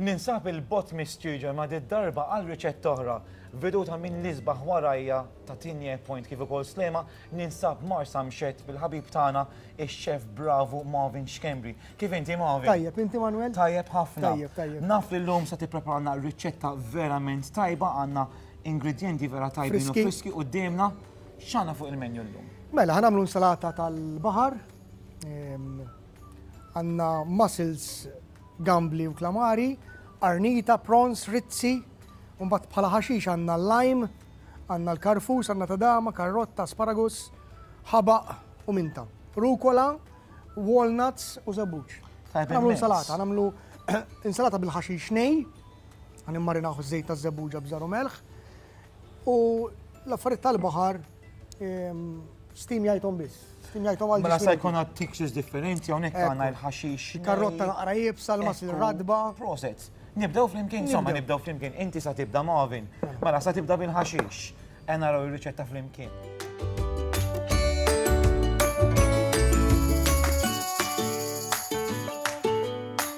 Ninsab 'il bogħod mistiġen ma' did-darba għal riċetta oħra, veduta minn l-isbaħ warajja ta' Tigne Point kif ukoll Sliema, ninsab Marsamxett bil-ħabib tagħna ix-xef bravu Marvin Schembri. Kif inti Marvin? Tajjeb, inti Manwel? Tajjeb ħafna. Tajjeb, tajjeb. Naf li llum se tippreparalna riċetta verament tajba, għandna ingredjenti vera tajbin u friski quddiemna. X'għandna fuq il-menju llum? Mela, ħa nagħmlu insalata tal-baħar, għandna mussels, gambli u klamari, qarnita, prawns, rizzi, u mbagħad bħala ħaxix għandna l-lime, għandna l-karfus, għandna tadama, karrotta, asparagus, ħabaq u minta. Rukola, walnuts u żebbuġ. Nagħmlu insalata, nagħmlu insalata bil-ħaxix nej, għan immarinaħu żejt ta' żebbuġa bżaru melħ, U l-affarijiet tal-baħar steam jgħidhom biss. Steam jgħidhom għal. Mela se jkun għad textures differenti hawnhekk għandna il-ħaxix. Karrotta naqra jibsa l-mas radba. Proset. Nibdew flimkien, insomma nibdew flimkien. Inti sa tibda Marvin. Mela sa tibda bil-ħaxix. Ena raw ir-riċetta flimkien.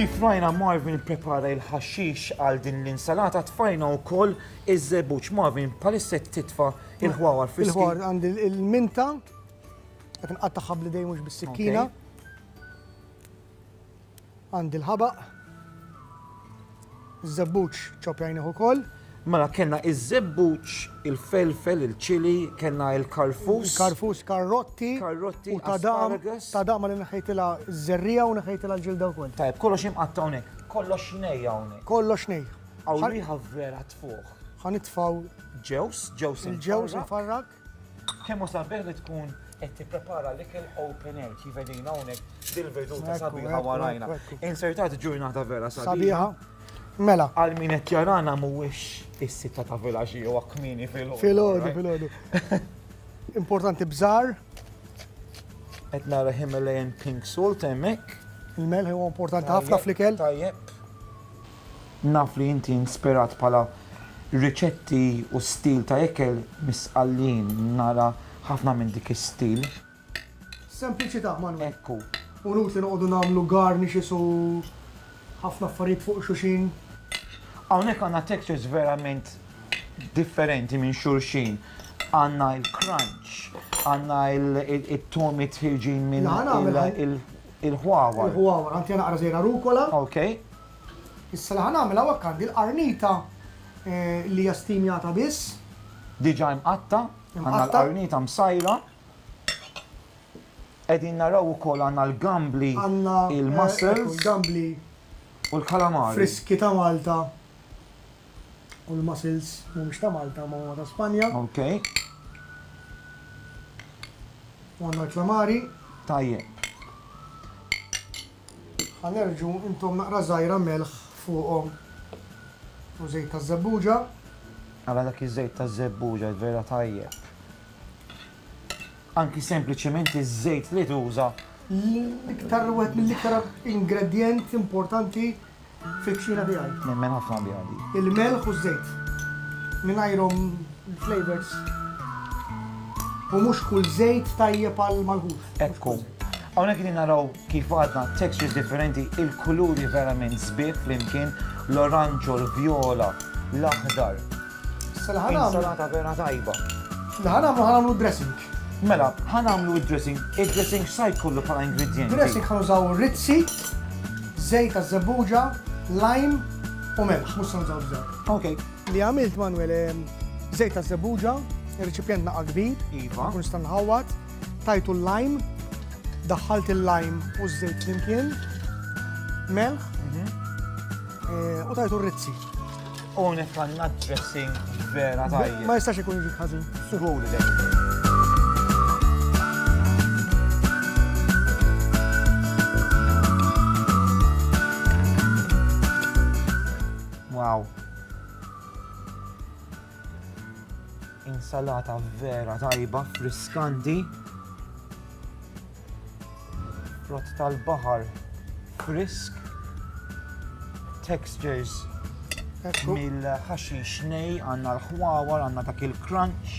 Kif rajna Marvin ipprepara il-ħaxix għal din l-insalata tfajna wkoll iż-żebbuġ. Marvin, bħalissa qed titfa' il-ħwawar friski. Il-ħwar għandi l-minta qed nqattagħha bl-idejn mhux bis-sikkina. Għandi l-ħabaq. Iż-żebbuġ ċopjajnih ukoll. Mela kellna iż-żebbuġ, il-felfel, il-ċili, kellna l-karfus. Karfus, karrotti. Karrotti, tadam. Tadam li neħejtilha ż-żerrija u neħejtilha l-ġilda wkoll. Tajb, kollox imqatta' hawnhekk. Kollox nej hawnhekk. Kollox nej. Hawn riħa vera tfuħ. Ħanitfgħu. Ġews, ġews. Il-ġews infarrak. Kemm hu sabiħ li tkun qed tipprepara l-ikel open air kif qegħdin hawnhekk dil-veduta sabiħa warajna. Insertat ġurnata vera sabiħa. Mela. Għal min qed jarana mhuwiex is-sitta ta' vilaġi jew kmini fil-ħodu. Fil-ħodu, fil-ħodu. Importanti bżar. Qed nara Himalayan pink salt hemmhekk. Il-melħ huwa importanti ħafna fl-ikel. Tajjeb. Naf li inti inspirat bħala riċetti u stil ta' ikel mis-Sqallin, nara ħafna minn dik is-stil. Sempliċità, Manwel. Ekku. Hu inutli noqogħdu nagħmlu garnishes u ħafna affarijiet fuq xuxin. Hawnhekk għandna textures verament differenti minn xulxin. Għandna il-crunch, għandna it-tomi tħirġin minn il-ħwawar. Il-ħwawar, ħantiha naqra żejra rucola. Okej. Issa li ħa nagħmel hawnhekk għandi l-qarnita li hija stinjata biss. Diġà imqatta', għandna l-qarnita msajra. Qegħdin naraw ukoll għandna l-gambli, il-mussels. Gambli. U l-kalamari. Friski ta' Malta. U l-mussels mhumiex ta' Malta imma huma ta' Spanja. Ok. U għandna l-kalamari. Tajjeb. Ħa nerġgħu intom naqra żgħira melħ fuqhom u żejt taż-żebbuġa. Ara dak iż-żejt taż-żebbuġa vera tajjeb. Anki sempliċement iż-żejt li tuża. L-iktar wieħed mill-iktar ingredjent importanti Fil-kċina tiegħi. Nemmen ħafna biha di. Il-melħ u ż-żejt. Mingħajrhom il-flavors. U mhux kull żejt tajjeb għal malħuf. Ekku. Hawnhekk qegħdin naraw kif għadna textures differenti, il-kuluri verament sbieħ flimkien, l-oranġo, l-vjola, l-aħdar. Insalata vera tajba. Ħanamlu ħanamlu dressing. Mela, ħa nagħmlu d-dressing. Id-dressing x'sa jkollu bħala ingredjenti? Dressing ħa nużaw rizzi, żejt taż-żebbuġa, lime u melħ, mhux se nużaw żejt. Ok. Li għamilt Manwel, żejt taż-żebbuġa, ir-riċipjent naqa' kbir, ma nkunx nista' nħawwad, tajtu l-lime, daħħalt il-lime u ż-żejt flimkien, melħ u tajtu r-rizzi. Onek għanna dressing vera tajjeb. Ma jistax ikun ġik ħazin. Suħuli dek. Wow. Insalata vera tajba, friskanti. Frott tal-baħar frisk, textures mill-ħaxix nej, għanna l-ħwawar, għanna dak il-crunch.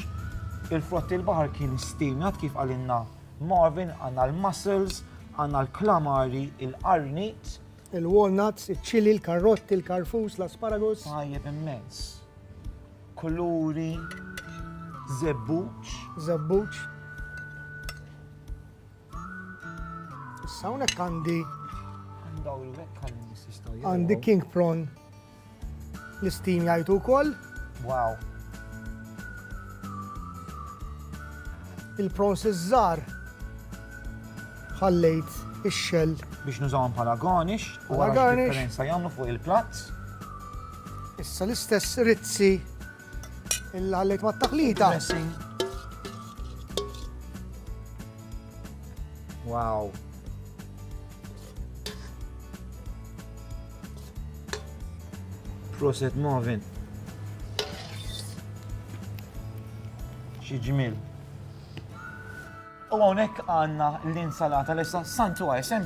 Il-frott il-baħar kien stimjat kif għalinna Marvin, għanna l-mussels, għanna l-klamari, il-qarnit. Il-walnuts, il-ċili, il-karrotti, il-karfus, l-asparagus. Tajjeb immens. Kuluri. Zebbuċ. Zebbuċ. Issa hawnhekk għandi. Għandi king prawn l-istim jgħajtu wkoll. Wow. Il-prawns iż-żar ħallejt ix-xell. Biex nużawhom bħala garnish, u garnish. Differenza jagħmlu fuq il-platt. Issa l-istess rizzi illi ħallejt mat-taħlita. Wow. Proset Marvin. Xi ġmil. U hawnhekk għandna l-insalata l-issa santu għajsem